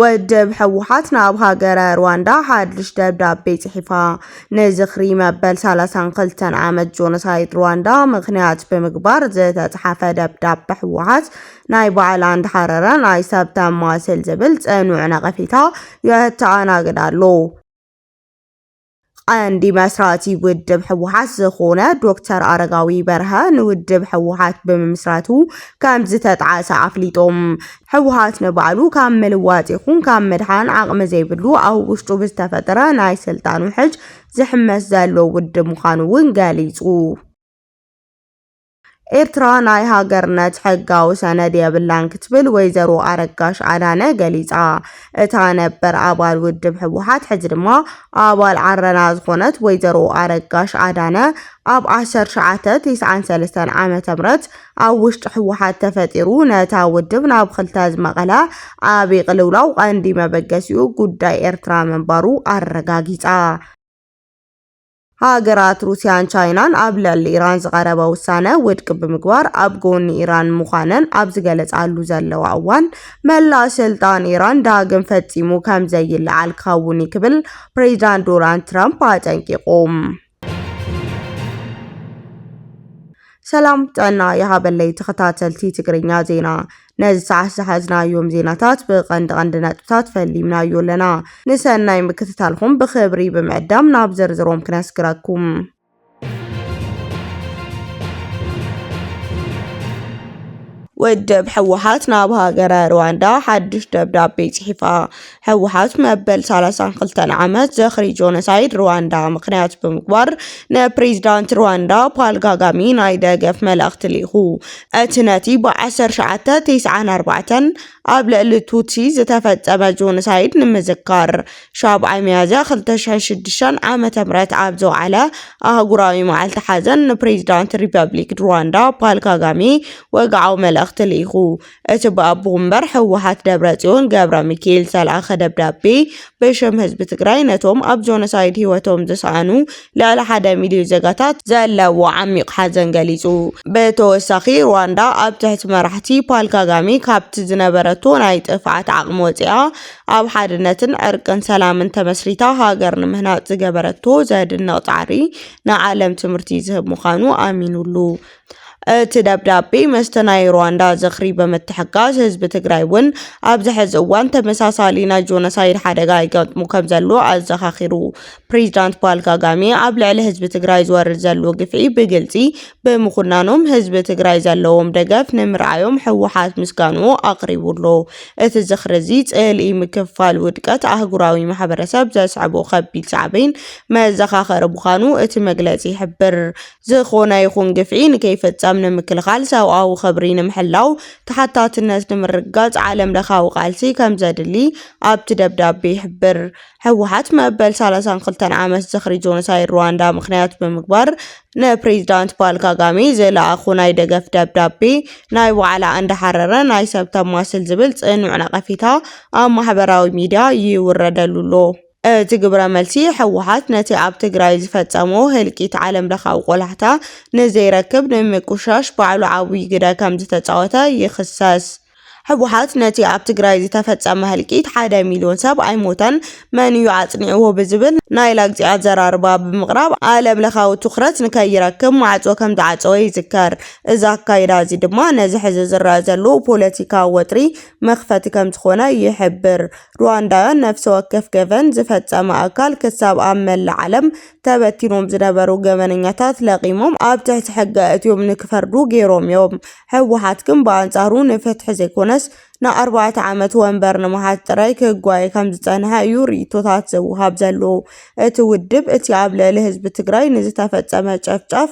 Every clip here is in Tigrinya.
ወድብ ሕወሓት ናብ ሃገረ ሩዋንዳ ሓድሽ ደብዳቤ ጽሒፋ ንዝኽሪ መበል 32 ዓመት ጆኖሳይድ ሩዋንዳ ምኽንያት ብምግባር ዝተጽሓፈ ደብዳቤ ሕወሓት ናይ በዓል ኣንድ ሓረረ ናይ ሰብ ተማስል ዝብል ጽኑዕ ነቐፌታ የተኣናግድ ኣሎ። ቐንዲ መስራቲ ውድብ ህወሓት ዝኾነ ዶክተር ኣረጋዊ በርሀ ንውድብ ህወሓት ብምምስራቱ ከም ዝተጥዓሰ ኣፍሊጦም። ህወሓት ንባዕሉ ካብ ምልዋጥ ይኹን ካብ ምድሓን ዓቕሚ ዘይብሉ ኣብ ውሽጡ ብዝተፈጠረ ናይ ስልጣን ውሕጅ ዝሕመስ ዘሎ ውድብ ምዃኑ እውን ገሊጹ። ኤርትራ ናይ ሃገርነት ሕጋዊ ሰነድ የብላን ክትብል ወይዘሮ ኣረጋሽ ኣዳነ ገሊጻ። እታ ነበር ኣባል ውድብ ህወሓት ሕዚ ድማ ኣባል ዓረና ዝኾነት ወይዘሮ ኣረጋሽ ኣዳነ ኣብ 1993 ዓ ም ኣብ ውሽጢ ህወሓት ተፈጢሩ ነታ ውድብ ናብ ክልተ ዝመቐለ ዓብዪ ቅልውላው ቀንዲ መበገሲኡ ጉዳይ ኤርትራ ምንባሩ ኣረጋጊጻ። ሃገራት ሩስያን ቻይናን ኣብ ልዕሊ ኢራን ዝቐረበ ውሳነ ውድቂ ብምግባር ኣብ ጎኒ ኢራን ምዃነን ኣብ ዝገለጻሉ ዘለዋ እዋን መላእ ስልጣን ኢራን ዳግም ፈጺሙ ከም ዘይለዓል ክኸውን እዩ ክብል ፕሬዚዳንት ዶናልድ ትራምፕ ኣጠንቂቑ። ሰላም ጥዕና ይሃበለይ ተኸታተልቲ ትግርኛ ዜና ነዚ ሰዓት ዝሓዝናዮም ዜናታት ብቐንዲ ቀንዲ ነጥብታት ፈሊምናዮ ኣለና። ንሰናይ ምክትታልኩም ብክብሪ ብምዕዳም ናብ ዝርዝሮም ክነስግረኩም። ውድብ ሕወሓት ናብ ሃገረ ሩዋንዳ ሓድሽ ደብዳቤ ጽሒፋ። ህወሓት መበል ሰላሳን ክልተን ዓመት ዝኽሪ ጆኖሳይድ ሩዋንዳ ምኽንያት ብምግባር ንፕሬዚዳንት ሩዋንዳ ፓል ጋጋሚ ናይ ደገፍ መልእኽቲ ልኢኹ። እቲ ነቲ ብ1994 ኣብ ልዕሊ ቱትሲ ዝተፈጸመ ጆኖሳይድ ንምዝካር ሻብዓይ ሚያዝያ 2006 ዓ.ም ኣብ ዝወዓለ ኣህጉራዊ መዓልቲ ሓዘን ንፕሬዚዳንት ሪፐብሊክ ሩዋንዳ ፓል ጋጋሚ ወግዓዊ መልእኽቲ ልኢኹ። እቲ ብኣቦ ወንበር ህወሓት ደብረፅዮን ገብረሚካኤል ዝተልኣኸ ደብዳቤ ብሽም ህዝቢ ትግራይ ነቶም ኣብ ጆኖሳይድ ህይወቶም ዝሰኣኑ ልዕሊ ሓደ ሚልዮን ዜጋታት ዘለዎ ዓሚቕ ሓዘን ገሊፁ። ብተወሳኺ ሩዋንዳ ኣብ ትሕቲ መራሕቲ ፓል ካጋሜ ካብቲ ዝነበረቶ ናይ ጥፍዓት ዓቕሚ ወፂኣ ኣብ ሓድነትን ዕርቅን ሰላምን ተመስሪታ ሃገር ንምህናፅ ዝገበረቶ ዘድንቕ ፃዕሪ ንዓለም ትምህርቲ ዝህብ ምዃኑ ኣሚኑሉ። እቲ ደብዳቤ ምስቲ ናይ ሩዋንዳ ዝኽሪ ብምትሕጋዝ ህዝቢ ትግራይ እውን ኣብዚ ሕዚ እዋን ተመሳሳሊ ናይ ጆኖሳይድ ሓደጋ ይገጥሙ ከም ዘሎ ኣዘኻኺሩ። ፕሬዚዳንት ፓል ካጋሜ ኣብ ልዕሊ ህዝቢ ትግራይ ዝወርድ ዘሎ ግፍዒ ብግልፂ ብምኹናኖም ህዝቢ ትግራይ ዘለዎም ደገፍ ንምርኣዮም ህወሓት ምስጋንኡ ኣቕሪቡሎ። እቲ ዝኽሪ እዚ ፅልኢ ምክፍፋል ውድቀት ኣህጉራዊ ማሕበረሰብ ዘስዕቦ ከቢድ ሳዕቤን መዘኻኸሪ ምዃኑ እቲ መግለፂ ይሕብር። ዝኾነ ይኹን ግፍዒ ንከይፍጸም ንምክልኻል ሰብኣዊ ኽብሪ ንምሕላው ተሓታትነት ንምርግጋጽ ዓለም ለኻዊ ቃልሲ ከምዘድሊ ኣብቲ ደብዳቤ ይሕብር። ህወሓት መበል 32 ዓመት ዝኽሪ ጆኖሳይድ ሩዋንዳ ምኽንያት ብምግባር ንፕሬዚዳንት ፓል ካጋሜ ዝለኣኹ ናይ ደገፍ ደብዳቤ ናይ ባዕላ እንዳሓረረ ናይ ሰብ ተማስል ዝብል ጽኑዕ ነቐፌታ ኣብ ማሕበራዊ ሚድያ ይውረደሉ ኣሎ። እቲ ግብረ መልሲ ህወሓት ነቲ ኣብ ትግራይ ዝፈፀሞ ህልቂት ዓለም ለኻዊ ቆላሕታ ንዘይረክብ ንምቁሻሽ ባዕሉ ዓብዪ ግደ ከምዝተፃወተ ይኽሰስ። ህወሓት ነቲ ኣብ ትግራይ ዝተፈፀመ ህልቂት ሓደ ሚልዮን ሰብ ኣይሞተን መን እዩ ኣፅኒዕዎ ብዝብል ናይ ላግፂ ኣዘራርባ ብምቕራብ ዓለም ለኻዊ ትኹረት ንከይረክብ ማዕፆ ከምዝዓፀወ ይዝከር። እዚ ኣካይዳ እዚ ድማ ነዚ ሕዚ ዝረኣ ዘሎ ፖለቲካዊ ወጥሪ መኽፈቲ ከምዝኾነ ይሕብር። ሩዋንዳውያን ነፍሲ ወከፍ ገበን ዝፈጸመ ኣካል ክሳብ ኣብ መላእ ዓለም ተበቲኖም ዝነበሩ ገበነኛታት ለቒሞም ኣብ ትሕቲ ሕገ እትዮም ንክፈርዱ ገይሮም እዮም። ህወሓት ግን ብኣንጻሩ ንፍትሒ ዘይኮነስ ንኣርባዕተ ዓመት ወንበር ንምሓዝ ጥራይ ክጓየ ከም ዝጸንሐ እዩ ርእይቶታት ዘውሃብ ዘሎ። እቲ ውድብ እቲ ኣብ ልዕሊ ህዝቢ ትግራይ ንዝተፈጸመ ጨፍጫፍ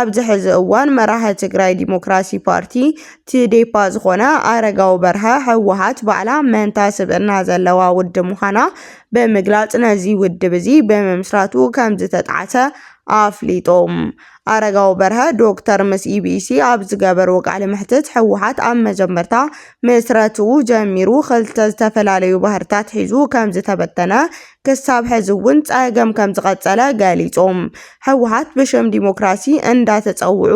ኣብዚ ሕዚ እዋን መራሒ ትግራይ ዲሞክራሲ ፓርቲ፣ ትዴፓ፣ ዝኾነ ኣረጋዊ በርሀ ህወሓት ባዕላ መንታ ስብእና ዘለዋ ውድብ ምዃና ብምግላፅ ነዚ ውድብ እዚ ብምምስራቱ ከምዝተጥዓሰ ኣፍሊጡ። ኣረጋዊ በርሀ፣ ዶክተር፣ ምስ ኢቢሲ ኣብ ዝገበርዎ ቃለ መሕትት ህወሓት ኣብ መጀመርታ ምስረትኡ ጀሚሩ ክልተ ዝተፈላለዩ ባህርታት ሒዙ ከምዝተበተነ ክሳብ ሕዚ እውን ፀገም ከምዝቐፀለ ገሊፆም። ህወሓት ብሽም ዲሞክራሲ እንዳተፀውዑ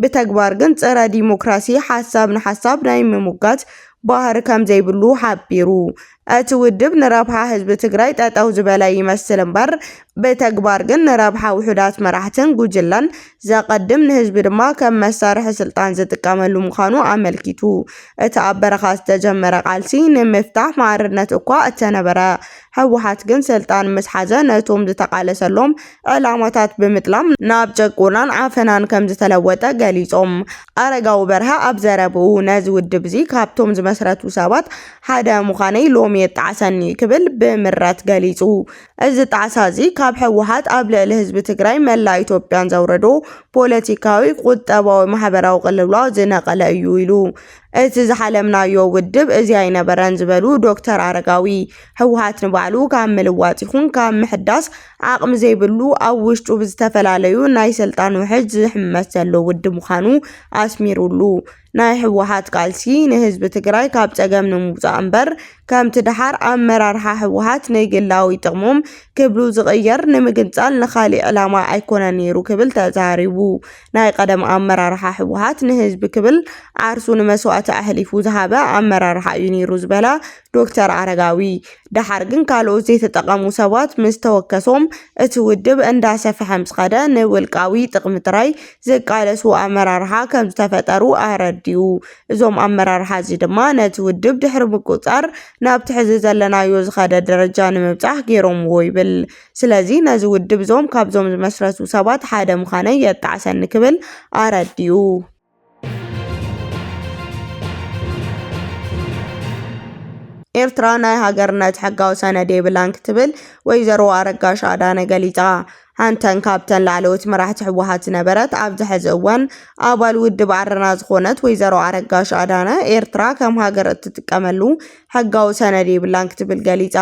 ብተግባር ግን ፅረ ዲሞክራሲ ሓሳብ ንሓሳብ ናይ ምሙጋት ባህሪ ከምዘይብሉ ሓቢሩ። እቲ ውድብ ንረብሓ ህዝቢ ትግራይ ጠጠው ዝበለ ይመስል እምበር ብተግባር ግን ንረብሓ ውሑዳት መራሕትን ጉጅለን ዘቐድም፣ ንህዝቢ ድማ ከም መሳርሒ ስልጣን ዝጥቀመሉ ምዃኑ ኣመልኪቱ። እቲ ኣብ በረኻ ዝተጀመረ ቃልሲ ንምፍታሕ ማዕርነት እኳ እተነበረ፣ ህወሓት ግን ስልጣን ምስ ሓዘ ነቶም ዝተቓለሰሎም ዕላማታት ብምጥላም ናብ ጭቆናን ዓፈናን ከም ዝተለወጠ ገሊጾም። ኣረጋዊ በርሀ ኣብ ዘረብኡ፣ ነዚ ውድብ'ዚ ካብቶም ዝመስረቱ ሰባት ሓደ ምዃነይ ሎሚ የጣዕሰኒ ክብል ብምረት ገሊጹ። እዚ ጣዕሳ እዚ ካብ ህወሓት ኣብ ልዕሊ ህዝቢ ትግራይ መላእ ኢትዮጵያን ዘውረዶ ፖለቲካዊ፣ ቁጠባዊ፣ ማሕበራዊ ቅልውላው ዝነቐለ እዩ ኢሉ። እቲ ዝሓለምናዮ ውድብ እዚ ኣይነበረን ዝበሉ ዶክተር ኣረጋዊ፣ ህወሓት ንባዕሉ ካብ ምልዋጥ ይኹን ካብ ምሕዳስ ዓቕሚ ዘይብሉ ኣብ ውሽጡ ብዝተፈላለዩ ናይ ስልጣን ውሕጅ ዝሕመስ ዘሎ ውድብ ምዃኑ ኣስሚሩሉ። ናይ ህወሓት ቃልሲ ንህዝቢ ትግራይ ካብ ፀገም ንምውፃእ እምበር ከምቲ ደሓር ኣመራርሓ ህወሓት ንግላዊ ጥቕሞም ክብሉ ዝቕየር ንምግንፃል ንኻሊእ ዕላማ ኣይኮነን ነይሩ ክብል ተዛሪቡ። ናይ ቀደም ኣመራርሓ ህወሓት ንህዝቢ ክብል ዓርሱ ንመስዋእቲ ኣሕሊፉ ዝሃበ ኣመራርሓ እዩ ነይሩ ዝበለ ዶክተር ኣረጋዊ፣ ደሓር ግን ካልኦት ዘይተጠቐሙ ሰባት ምስ ተወከሶም እቲ ውድብ እንዳሰፈሐ ምስ ኸደ ንውልቃዊ ጥቕሚ ጥራይ ዝቃለሱ ኣመራርሓ ከም ዝተፈጠሩ ኣረዲኡ። እዞም ኣመራርሓ እዚ ድማ ነቲ ውድብ ድሕሪ ምቁጽጻር ናብቲ ሕዚ ዘለናዮ ዝኸደ ደረጃ ንምብጻሕ ገይሮምዎ ይብል። ስለዚ ነዚ ውድብ እዞም ካብዞም ዝመስረቱ ሰባት ሓደ ምዃነይ የጣዕሰኒ ክብል ኣረዲኡ። ኤርትራ ናይ ሃገርነት ሕጋዊ ሰነድ የብላን ክትብል ወይዘሮ ኣረጋሽ ኣዳነ ገሊጻ። ሓንተን ካብተን ላዕለዎት መራሕቲ ህወሓት ዝነበረት ኣብዚ ሕዚ እዋን ኣባል ውድብ ዓረና ዝኾነት ወይዘሮ ኣረጋሽ ኣዳነ ኤርትራ ከም ሃገር እትጥቀመሉ ሕጋዊ ሰነድ የብላን ክትብል ገሊጻ።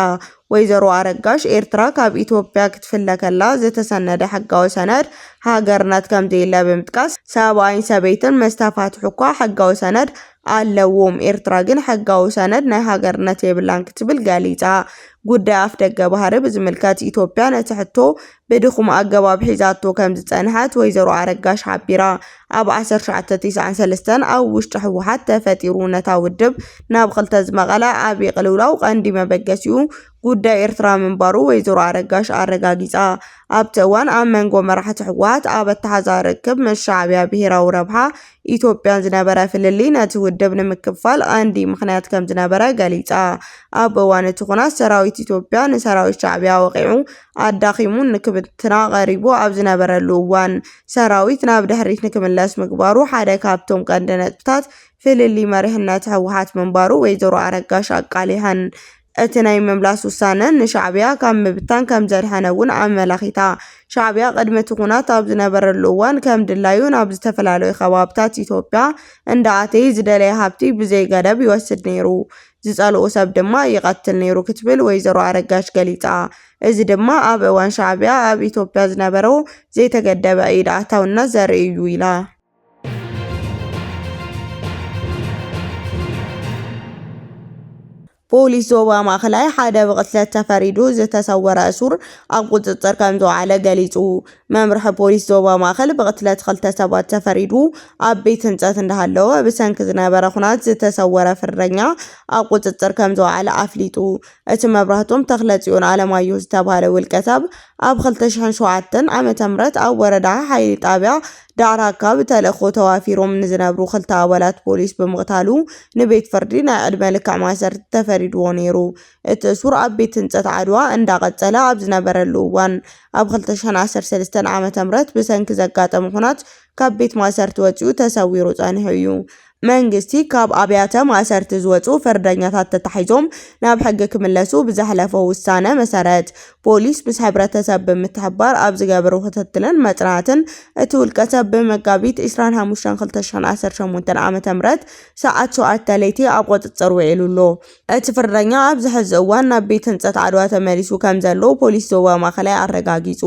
ወይዘሮ ኣረጋሽ፣ ኤርትራ ካብ ኢትዮጵያ ክትፍለ ከላ ዝተሰነደ ሕጋዊ ሰነድ ሃገርነት ከምዘየለ ብምጥቃስ፣ ሰብኣይን ሰበይትን ምስ ተፋትሑ'ኳ ሕጋዊ ሰነድ ኣለዎም፣ ኤርትራ ግን ሕጋዊ ሰነድ ናይ ሃገርነት የብላን ክትብል ገሊጻ። ጉዳይ ኣፍደገ ባህሪ ብዝምልከት፣ ኢትዮጵያ ነቲ ሕቶ ብድኹም ኣገባብ ሒዛቶ ከምዝፀንሐት ወይዘሮ ኣረጋሽ ሓቢራ። ኣብ ዓሰርተ ትሽዓተ ቲስዓን ሰለስተን ኣብ ውሽጢ ህወሓት ተፈጢሩ ነታ ውድብ ናብ ክልተ ዝመቐለ ዓብዪ ቅልውላው ቀንዲ መበገሲኡ ጉዳይ ኤርትራ ምንባሩ ወይዘሮ ኣረጋሽ ኣረጋጊፃ። ኣብቲ እዋን ኣብ መንጎ መራሕቲ ህወሓት ኣብ ኣተሓዛ ርክብ ምስ ሻዕቢያ ብሄራዊ ረብሓ ኢትዮጵያን ዝነበረ ፍልልይ ነቲ ውድብ ንምክፍፋል ቀንዲ ምኽንያት ከምዝነበረ ገሊጻ። ኣብ እዋን እቲ ኹናት ሰራዊት ኢትዮጵያ ንሰራዊት ሻዕቢያ ወቒዑ ኣዳኺሙን ንክብትና ቀሪቡ ኣብ ዝነበረሉ እዋን ሰራዊት ናብ ድሕሪት ንክምለስ ምግባሩ ሓደ ካብቶም ቀንዲ ነጥብታት ፍልልይ መሪሕነት ህወሓት ምንባሩ ወይዘሮ ኣረጋሽ ኣቃሊሐን እቲ ናይ ምምላስ ውሳነ ንሻዕቢያ ካብ ምብታን ከም ዘድሐነ እውን ኣመላኺታ። ሻዕቢያ ቅድሚ እቲ ኩናት ኣብ ዝነበረሉ እዋን ከም ድላዩ ናብ ዝተፈላለዩ ከባብታት ኢትዮጵያ እንዳኣተየ ዝደለየ ሃብቲ ብዘይገደብ ይወስድ ነይሩ፣ ዝፀልኦ ሰብ ድማ ይቐትል ነይሩ ክትብል ወይዘሮ ኣረጋሽ ገሊፃ። እዚ ድማ ኣብ እዋን ሻዕቢያ ኣብ ኢትዮጵያ ዝነበሮ ዘይተገደበ ኢድ ኣእታውነት ዘርኢ እዩ ኢላ። ፖሊስ ዞባ ማእኸላይ ሓደ ብቕትለት ተፈሪዱ ዝተሰወረ እሱር ኣብ ቁፅፅር ከም ዝወዓለ ገሊፁ። መምርሒ ፖሊስ ዞባ ማእኸል ብቕትለት ክልተ ሰባት ተፈሪዱ ኣብ ቤት ህንፀት እንዳሃለወ ብሰንኪ ዝነበረ ኩናት ዝተሰወረ ፍርደኛ ኣብ ቁፅፅር ከም ዝወዓለ ኣፍሊጡ። እቲ መብራህቶም ተክለፅዮን ኣለማየሁ ዝተባህለ ውልቀሰብ ኣብ 2007 ዓ.ም ኣብ ወረዳ ሓይሊ ጣብያ ዳዕራካ ብተልእኾ ተዋፊሮም ንዝነብሩ ክልተ ኣባላት ፖሊስ ብምቕታሉ ንቤት ፍርዲ ናይ ዕድመ ልክዕ ማእሰርቲ ተፈሪድዎ ነይሩ። እቲ እሱር ኣብ ቤት ህንፀት ዓድዋ እንዳቐፀለ ኣብ ዝነበረሉ እዋን ኣብ 2013 ዓ.ም ብሰንኪ ዘጋጠመ ኹናት ካብ ቤት ማእሰርቲ ወፂኡ ተሰዊሩ ፀኒሑ እዩ። መንግስቲ ካብ ኣብያተ ማእሰርቲ ዝወፁ ፍርደኛታት ተታሒዞም ናብ ሕጊ ክምለሱ ብዘሕለፎ ውሳነ መሰረት ፖሊስ ምስ ሕብረተሰብ ብምትሕብባር ኣብ ዝገብሮ ክትትልን መፅናዕትን እቲ ውልቀሰብ ብመጋቢት 25/2018 ዓ.ም ሰዓት ሸውዓተ ለይቲ ኣብ ቁፅፅር ውዒሉ ኣሎ። እቲ ፍርደኛ ኣብዚ ሕዚ እዋን ናብ ቤት ህንፀት ዓድዋ ተመሊሱ ከምዘሎ ፖሊስ ዞባ ማእኸላይ ኣረጋጊፁ።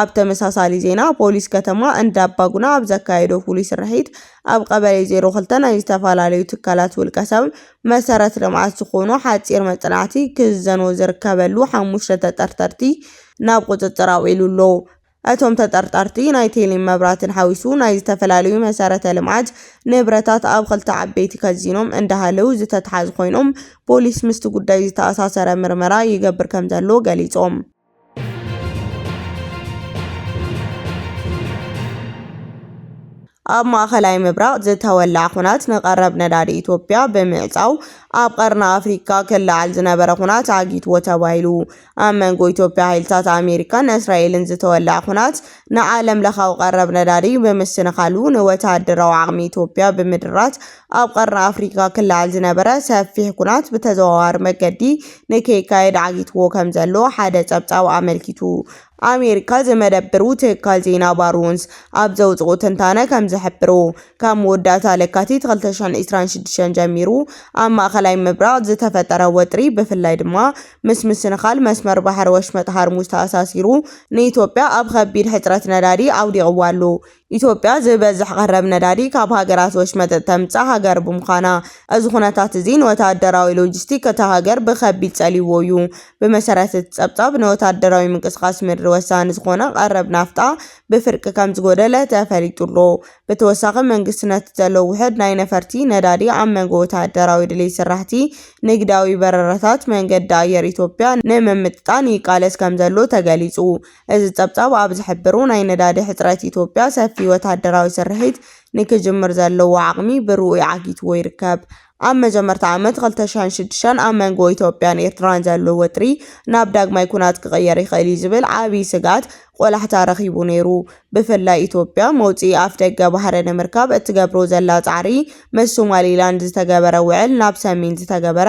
ኣብ ተመሳሳሊ ዜና ፖሊስ ከተማ እንዳባጉና ኣብ ዘካየዶ ፍሉይ ስርሒት ኣብ ቀበሌ ዜሮ ክልተ ናይ ዝተፈላለዩ ትካላት ውልቀ ሰብ መሰረት ልምዓት ዝኾኑ ሓፂር መፅናዕቲ ክዝዘኑ ዝርከበሉ ሓሙሽተ ተጠርጠርቲ ናብ ቁፅፅር ኣውዒሉ ኣሎ። እቶም ተጠርጠርቲ ናይ ቴሌን መብራትን ሓዊሱ ናይ ዝተፈላለዩ መሰረተ ልምዓት ንብረታት ኣብ ክልተ ዓበይቲ ከዚኖም እንዳሃለው ዝተትሓዙ ኮይኖም ፖሊስ ምስቲ ጉዳይ ዝተኣሳሰረ ምርመራ ይገብር ከምዘሎ ገሊፆም። ኣብ ማእኸላይ ምብራቕ ዝተወልዐ ኩናት ንቐረብ ነዳዲ ኢትዮጵያ ብምዕፃው ኣብ ቀርኒ ኣፍሪካ ክለዓል ዝነበረ ኩናት ዓጊትዎ ተባሂሉ። ኣብ መንጎ ኢትዮጵያ ሓይልታት ኣሜሪካን እስራኤልን ዝተወልዐ ኩናት ንዓለምለኻዊ ቀረብ ነዳዲ ብምስንኻሉ ንወተሃደራዊ ዓቕሚ ኢትዮጵያ ብምድራት ኣብ ቀርኒ ኣፍሪካ ክለዓል ዝነበረ ሰፊሕ ኩናት ብተዘዋዋሪ መገዲ ንከይካየድ ዓጊትዎ ከም ዘሎ ሓደ ጸብጻብ ኣመልኪቱ። ኣሜሪካ ዝመደብሩ ትካል ዜና ባሩንስ ኣብ ዘውጽኦ ትንታነ ከም ዝሕብሮ፣ ካብ መወዳእታ ለካቲት 2026 ጀሚሩ ኣብ ማእከላይ ምብራቕ ዝተፈጠረ ወጥሪ ብፍላይ ድማ ምስ ምስንኻል መስመር ባሕሪ ወሽመጥ ሃርሙዝ ተኣሳሲሩ ንኢትዮጵያ ኣብ ኸቢድ ሕፅረት ነዳዲ ኣውዲቕዋ ኣሎ። ኢትዮጵያ ዝበዝሕ ቀረብ ነዳዲ ካብ ሃገራት ወሽመጥ እተምፅእ ሃገር ብምዃና እዚ ኹነታት እዚ ንወታደራዊ ሎጂስቲክ እታ ሃገር ብኸቢድ ፀሊይዎ እዩ። ብመሰረት እቲ ፀብፃብ ንወታደራዊ ምንቅስቓስ ምድሪ ወሳኒ ዝኾነ ቀረብ ናፍጣ ብፍርቂ ከምዝጎደለ ተፈሊጡ ኣሎ። ብተወሳኺ መንግስቲ ነቲ ዘሎ ውሑድ ናይ ነፈርቲ ነዳዲ ኣብ መንጎ ወተሃደራዊ ድሌት ስራሕቲ ንግዳዊ በረራታት መንገዲ ኣየር ኢትዮጵያ ንምምጥጣን ይቃለስ ከምዘሎ ተገሊፁ። እዚ ፀብፃብ ኣብ ዝሕብሩ ናይ ነዳዲ ሕፅረት ኢትዮጵያ ሰፊ ወተሃደራዊ ስርሒት ንክጅምር ዘለዎ ዓቕሚ ብርኡይ ዓጊትዎ ይርከብ። ኣብ መጀመርታ ዓመት ክልተ ሽሕን ሽዱሽተን ኣብ መንጎ ኢትዮጵያን ኤርትራን ዘሎ ወጥሪ ናብ ዳግማይ ኩናት ክቕየር ይኽእል እዩ ዝብል ዓብዪ ስግኣት ቆላሕታ ረኺቡ ነይሩ። ብፍላይ ኢትዮጵያ መውጽኢ ኣፍደገ ባሕሪ ንምርካብ እትገብሮ ዘላ ጻዕሪ ምስ ሶማሊላንድ ዝተገበረ ውዕል ናብ ሰሜን ዝተገበረ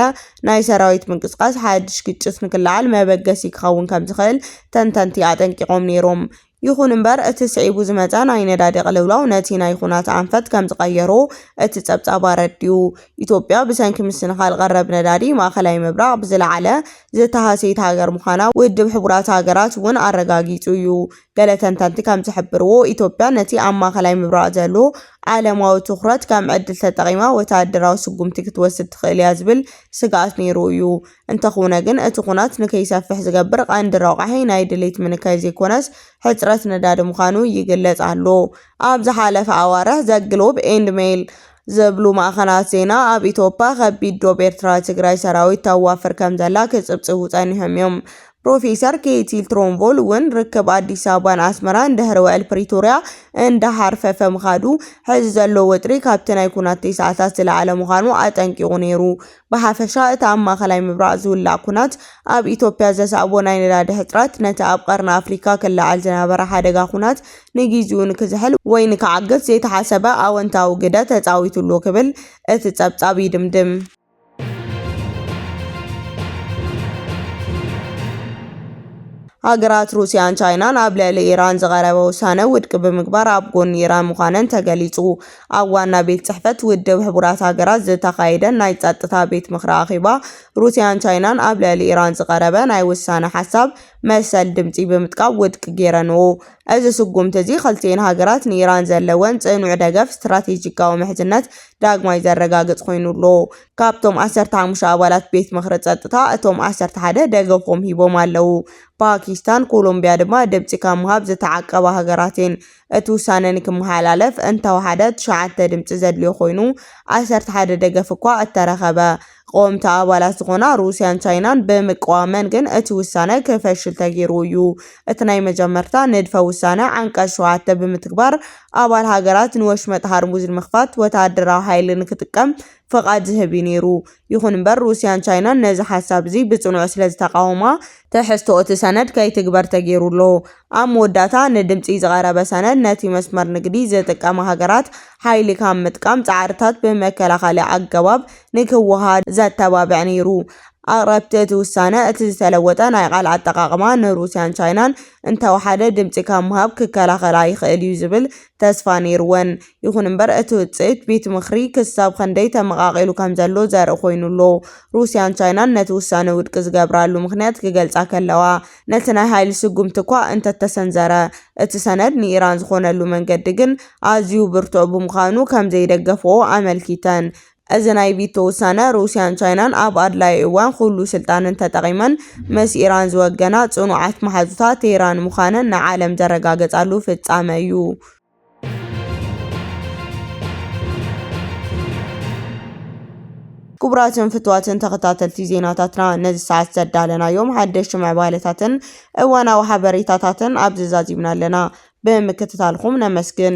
ናይ ሰራዊት ምንቅስቓስ ሓድሽ ግጭት ንክለዓል መበገሲ ክኸውን ከምዝኽእል ተንተንቲ ኣጠንቂቖም ነይሮም። ይኹን እምበር እቲ ስዒቡ ዝመጸ ናይ ነዳዲ ቅልውላው ነቲ ናይ ኹናት ኣንፈት ከም ዝቐየሮ እቲ ጸብጻብ ኣረዲኡ። ኢትዮጵያ ብሰንኪ ምስንኻል ቀረብ ነዳዲ ማእኸላይ ምብራቕ ብዝለዓለ ዝተሃሰየት ሃገር ምዃና ውድብ ሕቡራት ሃገራት እውን ኣረጋጊጹ እዩ። ገለ ተንተንቲ ከም ዝሕብርዎ ኢትዮጵያ ነቲ ኣብ ማእኸላይ ምብራቕ ዘሎ ዓለማዊ ትኹረት ከም ዕድል ተጠቒማ ወተሃደራዊ ስጉምቲ ክትወስድ ትኽእል እያ ዝብል ስግኣት ነይሩ እዩ። እንተኹነ ግን እቲ ኩናት ንከይሰፍሕ ዝገብር ቐንዲ ረቛሒ ናይ ድሌት ምንካይ ዘይኮነስ ሕጽረት ነዳዲ ምዃኑ ይግለጽ ኣሎ። ኣብ ዝሓለፈ ኣዋርሕ ዘ ግሎብ ኤንድ ሜይል ዝብሉ ማእኸናት ዜና ኣብ ኢትዮጵያ ከቢድ ዶብ ኤርትራ ትግራይ ሰራዊት ተዋፍር ከምዘላ ክጽብጽቡ ጸኒሖም እዮም። ፕሮፌሰር ኬቲ ትሮንቮል እውን ርክብ ኣዲስ ኣበባን ኣስመራን ድሕሪ ውዕል ፕሪቶርያ እንዳሃርፈፈ ምኻዱ ሕዚ ዘሎ ወጥሪ ካብቲ ናይ ኩናት ቴስዓታት ዝለዓለ ምዃኑ ኣጠንቂቑ ነይሩ። ብሓፈሻ እቲ ኣብ ማእከላይ ምብራቕ ዝውላዕ ኵናት፣ ኣብ ኢትዮጵያ ዘስዐቦ ናይ ነዳዲ ሕጽረት፣ ነቲ ኣብ ቀርኒ ኣፍሪካ ክለዓል ዝነበረ ሓደጋ ኵናት ንግዚኡ ንክዝሕል ወይ ንክዓግት ዘይተሓሰበ ኣወንታዊ ግደ ተጻዊቱ'ሎ ክብል እቲ ጸብጻብ ይድምድም። ሃገራት ሩስያን ቻይናን ኣብ ልዕሊ ኢራን ዝቐረበ ውሳነ ውድቂ ብምግባር ኣብ ጎኒ ኢራን ምዃነን ተገሊጹ። ኣብ ዋና ቤት ጽሕፈት ውድብ ሕቡራት ሃገራት ዝተኻየደ ናይ ጸጥታ ቤት ምኽሪ ኣኼባ ሩስያን ቻይናን ኣብ ልዕሊ ኢራን ዝቐረበ ናይ ውሳነ ሓሳብ መሰል ድምጺ ብምጥቃብ ውድቂ ጌረንኦ። እዚ ስጉምቲ እዚ ክልቲኤን ሃገራት ንኢራን ዘለወን ጽኑዕ ደገፍ ስትራቴጂካዊ ምሕዝነት ዳግማይ ዘረጋግጽ ኮይኑ ኣሎ። ካብቶም ዓሰርተ ሓሙሽተ ኣባላት ቤት ምኽሪ ጸጥታ እቶም ዓሰርተ ሓደ ደገፎም ሂቦም ኣለዉ። ፓኪስታን ኮሎምቢያ ድማ ድምጺ ካብ ምሃብ ዝተዓቀባ ሃገራት እየን። እቲ ውሳነ ንክመሓላለፍ እንተወሓደ ትሽዓተ ድምጺ ዘድልዮ ኮይኑ፣ ዓሰርተ ሓደ ደገፍ እኳ እተረኸበ። ቐወምቲ ኣባላት ዝኾና ሩስያን ቻይናን ብምቅዋመን ግን እቲ ውሳነ ክፈሽል ተገይሩ እዩ። እቲ ናይ መጀመርታ ንድፈ ውሳነ ዓንቀጽ ሸውዓተ ብምትግባር ኣባል ሃገራት ንወሽመጥ ሃርሙዝ ንምኽፋት ወተሃደራዊ ሓይሊ ንክጥቀም ፍቓድ ዝህብ እዩ ነይሩ። ይኹን እምበር ሩስያን ቻይናን ነዚ ሓሳብ'ዚ ብጽኑዕ ስለዝተቓወማ፣ ትሕዝቶ'ቲ ሰነድ ከይትግበር ተገይሩ ኣሎ። ኣብ መወዳእታ፣ ንድምጺ ዝቐረበ ሰነድ፣ ነቲ መስመር ንግዲ ዝጥቀማ ሃገራት ሓይሊ ካብ ምጥቃም ጻዕርታት ብመከላኸሊ ኣገባብ ንክወሃሃድ ዘተባብዕ ነይሩ። ኣቕረብቲ እቲ ውሳነ፣ እቲ ዝተለወጠ ናይ ቃል ኣጠቓቕማ ንሩስያን ቻይናን እንተወሓደ ድምጺ ካብ ምሃብ ክከላኸላ ይኽእል'ዩ ዝብል ተስፋ ነይሩወን። ይኹን እምበር እቲ ውጽኢት ቤት ምኽሪ ክሳብ ኸንደይ ተመቓቒሉ ከም ዘሎ ዘርኢ ኮይኑ ኣሎ። ሩስያን ቻይናን ነቲ ውሳነ ውድቂ ዝገብራሉ ምኽንያት ክገልጻ ከለዋ፣ ነቲ ናይ ሃይሊ ስጉምቲ እኳ እንተተሰንዘረ፣ እቲ ሰነድ ንኢራን ዝኾነሉ መንገዲ ግን ኣዝዩ ብርቱዕ ብምዃኑ ከም ዘይደገፍኦ ኣመልኪተን። እዚ ናይ ቪቶ ውሳነ፣ ሩስያን ቻይናን ኣብ ኣድላዪ እዋን ኹሉ ስልጣነን ተጠቒመን ምስ ኢራን ዝወገና ጽኑዓት መሓዙታ ቴህራን ምዃነን ንዓለም ዘረጋገጻሉ ፍጻመ እዩ። ክቡራትን ፍቱዋትን ተኸታተልቲ ዜናታትና ነዚ ሰዓት ዘዳለናዮም ሓደሽቲ ምዕባለታትን እዋናዊ ሓበሬታታትን ኣብዚ ዛዚምና ኣለና። ብምክትታልኹም ነመስግን።